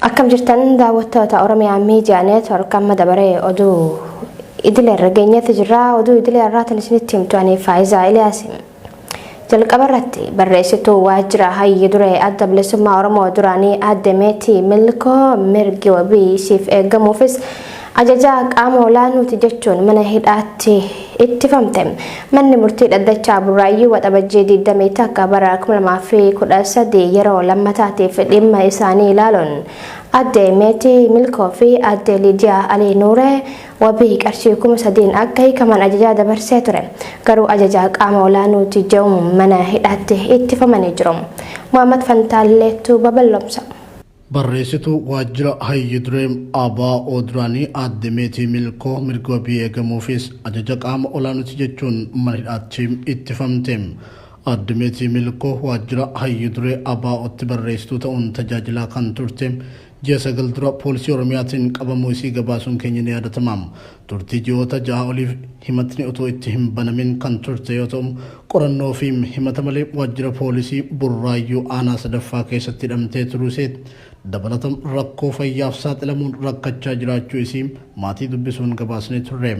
Akkam jirtan daawwattoota Oromiyaa Miidiyaa Neetwork amma dabaree oduu idilee irra geenyetti jirra. Oduu idilee irraatiin isinitti himtu ani Faayizaa Iliyaasi. Jalqaba irratti barreessituu waajjira hayyi duree adda bilisummaa Oromoo duraanii aadde Meetii Milkoo mirgi wabii siif eegamuufis Ajajaa qaama olaanuuti jechuun mana hidhaatti ittifamte. Manni murtii dhaddachaa Burraayyuu Waxabajjii 21 bara 2013 yeroo lammataatiif dhimma isaanii ilaaluun Aadde Meetii Milkoo fi Aadde Liidiyaa Alii Nuuree wabii qarshii 3000n akka hiikaman ajajaa dabarsee ture. Garuu ajajaa qaama olaanuuti je'uun mana hidhaatti ittifamanii jiru. Muhammad Fantaalleetu babal'omsa. Barreessituu waajjira hayyu duree ABO duraanii aadde Meetii Milkoo mirgi wabii eegamuufis ajaja qaama olaanuti jechuun mana hidhaatti ittifamte. Aadde Meetii Milkoo waajjira hayyu duree ABOtti barreessituu ta'uun tajaajilaa kan turte ji'a sagal dura poolisii Oromiyaatiin qabamuu isii gabaasuun keenya ni yaadatama. Turtii ji'oota ja'a oliif himatni utuu itti hin banamin kan turte yoo ta'u, qorannoo fi himata malee waajjira poolisii Burraayyuu aanaa 3ffaa keessatti hidhamtee turuu isee dabalata rakkoo fayyaaf saaxilamuun rakkachaa jiraachuu isii maatii dubbisuun gabaasnee turre.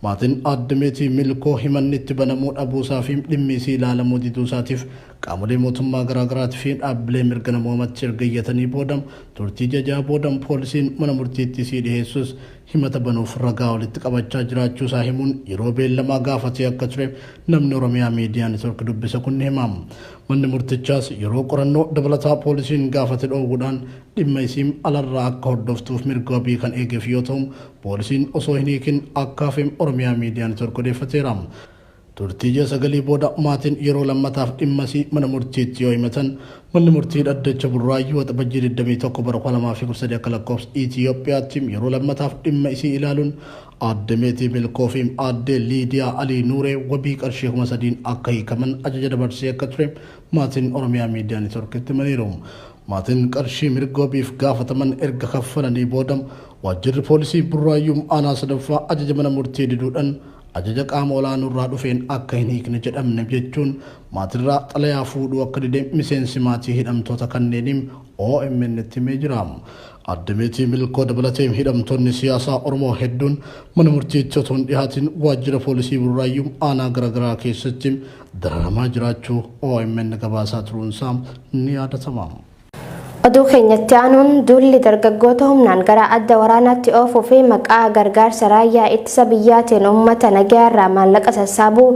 Maatiin Aadde Meetii Milkoo himanni itti banamuu dhabuu isaa fi dhimmi isii ilaalamuu diduu isaatiif qaamolee mootummaa garaa garaati fi dhaabbilee mirga namoomatti erga iyyatanii booda turtii ji'a ja'a booda poolisiin mana murtiitti isii dhiheessus himata banuuf ragaa walitti qabachaa jiraachuu isaa himuun yeroo beellamaa gaafatee akka ture namni Oromiyaa Miidiyaa Network dubbise kun ni hima. Manni murtichaas yeroo qorannoo dabalataa poolisiin gaafate dhoowwuudhaan dhimma isiim alarraa akka hordoftuuf mirga wabii kan eegeef yoo ta'u, poolisiin osoo hin hiikin akka hafe Oromiyaa Miidiyaa Network odeeffateera. Turtii ji'a sagalii booda maatiin yeroo lammataaf dhimmasii mana murtiitti yoo himatan, manni murtii dhaddacha Burraayyuu Waxabajjii 21 bara 2013 akka lakkoofsa Itiyoophiyaatti yeroo lammataaf dhimma isii ilaaluun Aadde Meetii Milkoo fi Aadde Liidiyaa Alii Nuuree wabii qarshii 3000n akka hiikaman ajaja dabarsee akka ture maatiin Oromiyaa Miidiyaa Networkitti himaniiru. Maatiin qarshii mirga wabiif gaafataman erga kaffalanii booda Waajjirri Poolisii Burraayyuu Aanaa 3ffaa ajaja mana murtii diduudhan ajaja qaama olaanuurraa dhufeen akka hin hiikne jedhamne jechuun maatirraa xalayaa fuudhuu akka dide miseensi maatii hidhamtoota kanneenii OMNtti himee jira. Aadde Meetii Milkoo dabalatee hidhamtoonni siyaasaa Oromoo hedduun mana murtiitti otoo hin dhihaatin waajjira poolisii Burraayyuu aanaa garaagaraa keessatti dararamaa jiraachuu omn gabaasaa turuunsaa ni yaadatama. Oduu keenyatti aanuun duulli dargaggoota humnaan gara adda waraanaatti oofuu fi maqaa gargaarsa raayyaa ittisa biyyaatiin uummata nagayaarraa maallaqa sassaabuu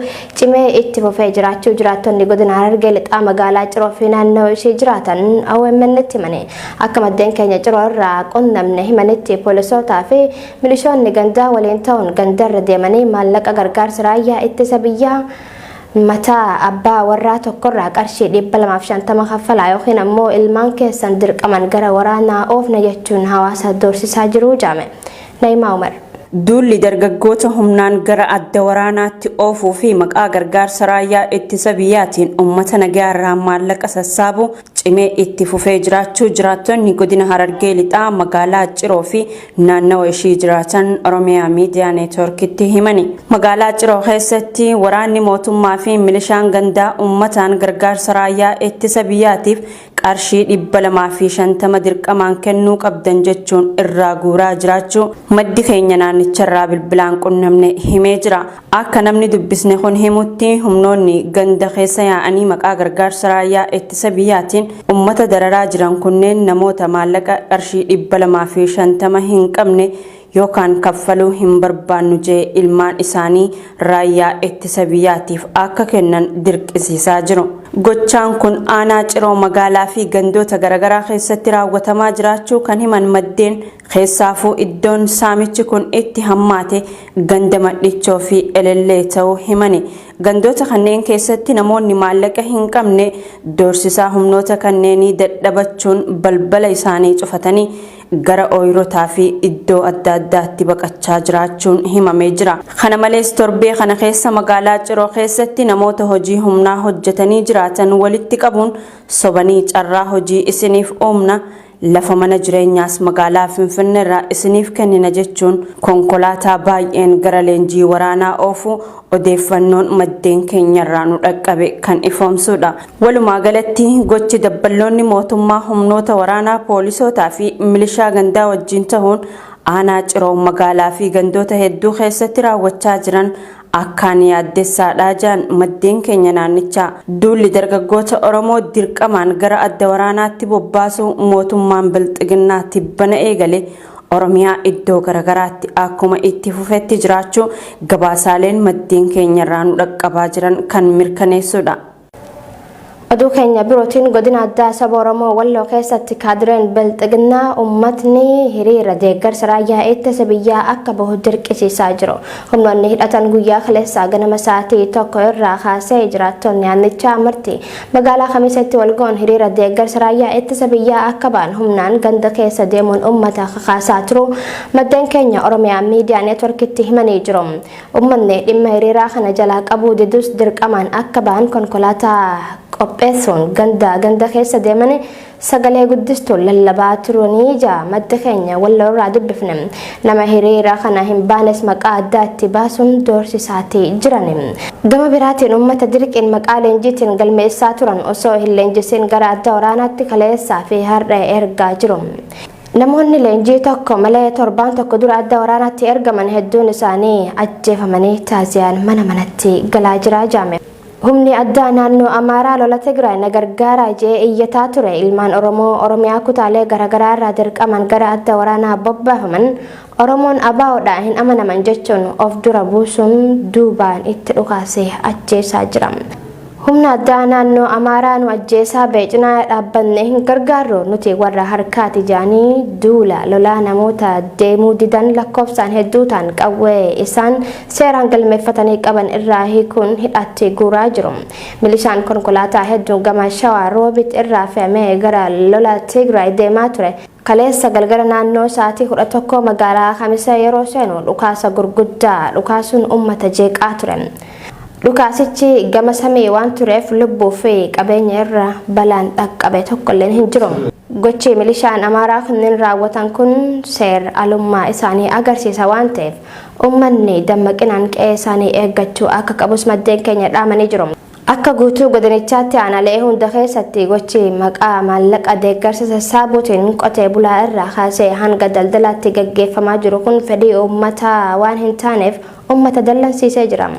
cimee itti fufee jiraachuu jiraattonni godina Harargee lixaa magaalaa Ciroo fi naannoo ishee jiraatan OMN'tti himaniiru. Akka maddeen keenya Ciroo irraa qunnamne himanitti poolisootaa fi milishoonni gandaa waliin ta'uun gandarra deemanii maallaqa gargaarsa raayyaa ittisa biyyaa mataa abbaa warraa tokkorraa qarshii 250 kaffalaa yookiin ammoo ilmaan keessan dirqaman gara waraanaa oofna jechuun hawaasa doorsisaa jiru jedhame. Na'imaa Umar. Duulli dargaggoota humnaan gara adda waraanaatti oofuu fi maqaa gargaarsa raayyaa ittisa biyyaatiin uummata nagayaarraa maallaqa sassaabu cimee itti fufee jiraachuu jiraattonni godina Harargee Lixaa magaalaa Ciroo fi naannawa ishii jiraatan Oromiyaa Miidiyaa Neetwoorkitti himani. Magaalaa Ciroo keessatti waraanni mootummaa fi milishaan gandaa uummataan gargaarsa raayyaa ittisa biyyaatiif qarshii 250 dirqamaan kennuu qabdan jechuun irraa guuraa jiraachuu maddi keenya naannicharraa bilbilaan qunnamne himee jira. Akka namni dubbisne kun himutti humnoonni ganda keessa yaa'anii maqaa gargaarsa raayyaa ittisa biyyaatiin ummata dararaa jiran kunneen namoota maallaqa qarshii 250 hin qabne yookaan kaffaluu hin barbaannu jee ilmaan isaanii raayyaa ittisa biyyaatiif akka kennan dirqisiisaa jiru. Gochaan kun aanaa Ciroo magaalaa fi gandoota garagaraa keessatti raawwatamaa jiraachuu kan himan maddeen Keessaafuu iddoon saamichi kun itti hammaate ganda Madhichoo fi Elellee ta'uu himani. Gandoota kanneen keessatti namoonni maallaqa hin qabne doorsisaa humnoota kanneenii dadhabachuun balbala isaanii cufatanii gara ooyirotaa fi iddoo adda addaatti baqachaa jiraachuun himamee jira. Kana malees torbee kana keessa magaalaa Ciroo keessatti namoota hojii humnaa hojjetanii jiraatan walitti qabuun sobanii carraa hojii isiniif uumna, Lafa mana jireenyaas magaalaa Finfinneerraa isiniif kennina jechuun konkolaataa baay'een gara leenjii waraanaa oofuu odeeffannoon maddeen keenyarraa nu dhaqqabe kan ifoomsuudha. Walumaagalatti, gochi dabballoonni mootummaa humnoota waraanaa, poolisootaafi milishaa gandaa wajjin tahuun aanaa Ciroo magaalaafi gandoota hedduu keessatti raawwachaa jiran Akkaan yaaddessaadha jedhan maddeen keenya naannichaa. Duulli dargaggoota Oromoo dirqamaan gara adda waraanaatti bobbaasuu mootummaan Bilxiginnaa tibbana eegale Oromiyaa iddoo garagaraatti akkuma itti fufetti jiraachuu gabaasaaleen maddeen keenyarraa nu dhaqqabaa jiran kan mirkaneessuudha. Oduu keenya birootiin godina addaa saba Oromoo Walloo keessatti kaadireen bilxiginnaa uummatni hiriira deeggarsa raayyaa ittisa biyyaa akka bahu dirqisiisaa jiru. Humnoonni hidhatan guyyaa kaleessaa ganama sa'aatii tokko irraa kaasee jiraattonni aannichaa marti magaalaa Kamiseetti walga'uun hiriira deeggarsa raayyaa ittisa biyyaa akka ba'an humnaan ganda keessa deemuun uummata kakaasaa turu maddeen keenya Oromiyaa miidiyaa neetworkitti himanii jiru. Ummanni dhimma hiriiraa kana jalaa qabuu didus dirqamaan akka ba'an konkolaataa qopheessuun ganda ganda keessa deemanii sagalee guddistuun lallabaa turuu ni ija maddi keenya Walloo irraa dubbifne. Nama hiriira kana hin baanes maqaa addaa itti baasuun doorsisaati jirani. Gama biraatiin ummata dirqiin maqaa leenjiitiin galmeessaa turan osoo hin leenjisiin gara adda waraanaatti kaleessaa fi har'a ergaa jiru. Namoonni leenjii tokko malee torbaan tokko dura adda waraanaatti ergaman hedduun isaanii ajjeefamanii taaziyaan mana manatti galaa jiraa jaame. Humni addaa naannoo Amaaraa lola Tigraay na gargaaraa je'ee iyyataa ture ilmaan Oromoo Oromiyaa kutaalee garagaraa irraa dirqamaan gara adda waraanaa bobbaafaman Oromoon ABOdha hin amanaman jechuun of dura buusuun duubaan itti dhukaasee ajjeesaa jira. Humna addaa naannoo Amaaraa nu ajjeesaa ba'e cinaa dhaabbanne hin gargaarru nuti warra harkaati jedhanii duula lolaa namoota deemuu didan lakkoofsaan hedduu ta'an qawwee isaan seeraan galmeeffatanii qaban irraa hiikuun hidhaatti guuraa jiru. Milishaan konkolaataa hedduun gama Shawaa Roobit irraa fe'amee gara lola Tigraay deemaa ture Kaleessa galgala naannoo sa'aatii 11 magaalaa Kamisee yeroo seenu dhukaasa gurguddaa dhukaasuun uummata jeeqaa ture. Dhukaasichi gama samii waan tureef lubbuu fi qabeenya irra balaan dhaqqabe tokkolleen hin jiru. Gochi milishaan Amaaraa kunneen raawwatan kun seer alummaa isaanii agarsiisa waan ta'eef uummanni dammaqinaan qe'ee isaanii eeggachuu akka qabus maddeen keenya dhaamanii jiru. Akka guutuu godinichaatti aanaalee hunda keessatti gochi maqaa maallaqa deeggarsa sassaabuutiin qotee bulaa irraa kaasee hanga daldalaatti gaggeeffamaa jiru kun fedhii uummataa waan hin taaneef uummata dallansiisee jira.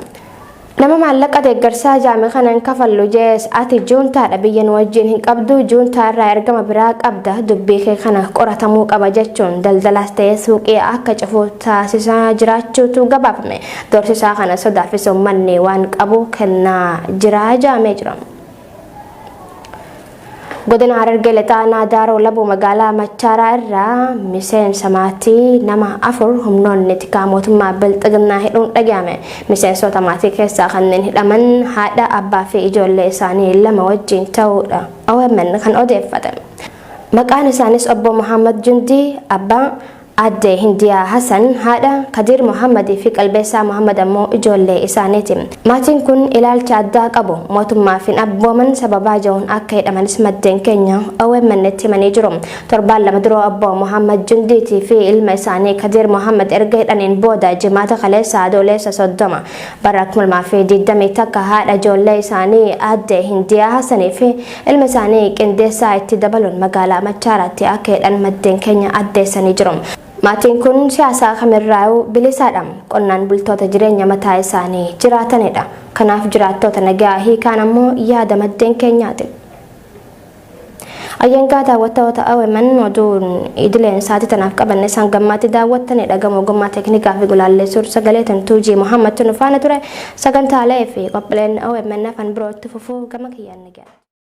Nama maallaqa deeggarsaa jaame kana hin kafallu jees ati juuntaadha biyya nu wajjin hin qabdu juuntaa irraa ergama biraa qabda dubbii kee kana qoratamuu qaba jechuun daldalaas ta'ee suuqii akka cufu taasisaa jiraachuutu gabaafame. Dorsisaa kana sodaafis ummanni waan qabu kennaa jira jaamee jira. Godina Harargee Lixaa Naadaaroo Labuu magaalaa Machaaraa irraa miseensa maatii nama afur humnoonni tikaa mootummaa bilxiginnaa hidhuun dhaga'ame. Miseensota maatii keessaa kanneen hidhaman haadha, abbaa fi ijoollee isaanii lama wajjin ta'uudha. OMN kan odeeffate. Maqaan isaanis obbo Muhammad Jundii, abbaa, Aadde Hindiyaa Hasan haadha, Kadiir Mohaammad fi Qalbeessaa Mohaammad ammoo ijoollee isaaniiti. Maatiin kun ilaalcha addaa qabu. Mootummaaf hin abbooman sababaa ja'uun akka hidhamanis maddeen keenya OMNtti himanii jiru. Torbaan lama dura obbo Mohaammad Jundiitii fi ilma isaanii Kadiir Mohaammad erga hidhaniin booda Jimaata kaleessa Adooleessa 30 bara 2021 haadha ijoollee isaanii Aadde Hindiyaa Hasanii fi Ilma isaanii Qindeessaa itti dabaluun magaalaa Machaaraatti akka hidhan maddeen keenya addeessanii jiru. Maatiin kun siyaasaa kamirraayuu bilisaadha. Qonnaan bultoota jireenya mataa isaanii jiraatanidha. Kanaaf jiraattoota nagaa hiikaan ammoo yaada maddeen keenyaati. Ayyangaa daawwattoota OMN oduun idileen sa'aatii tanaaf qabanne isaan gammaatti daawwattanii dhagamu ogummaa teeknikaa fi gulaallee suur sagalee tantuu G. Muhammad Tunufaana ture sagantaalee fi qophiileen OMN afaan birootti fufuu gama kiyyaan ni ga'a.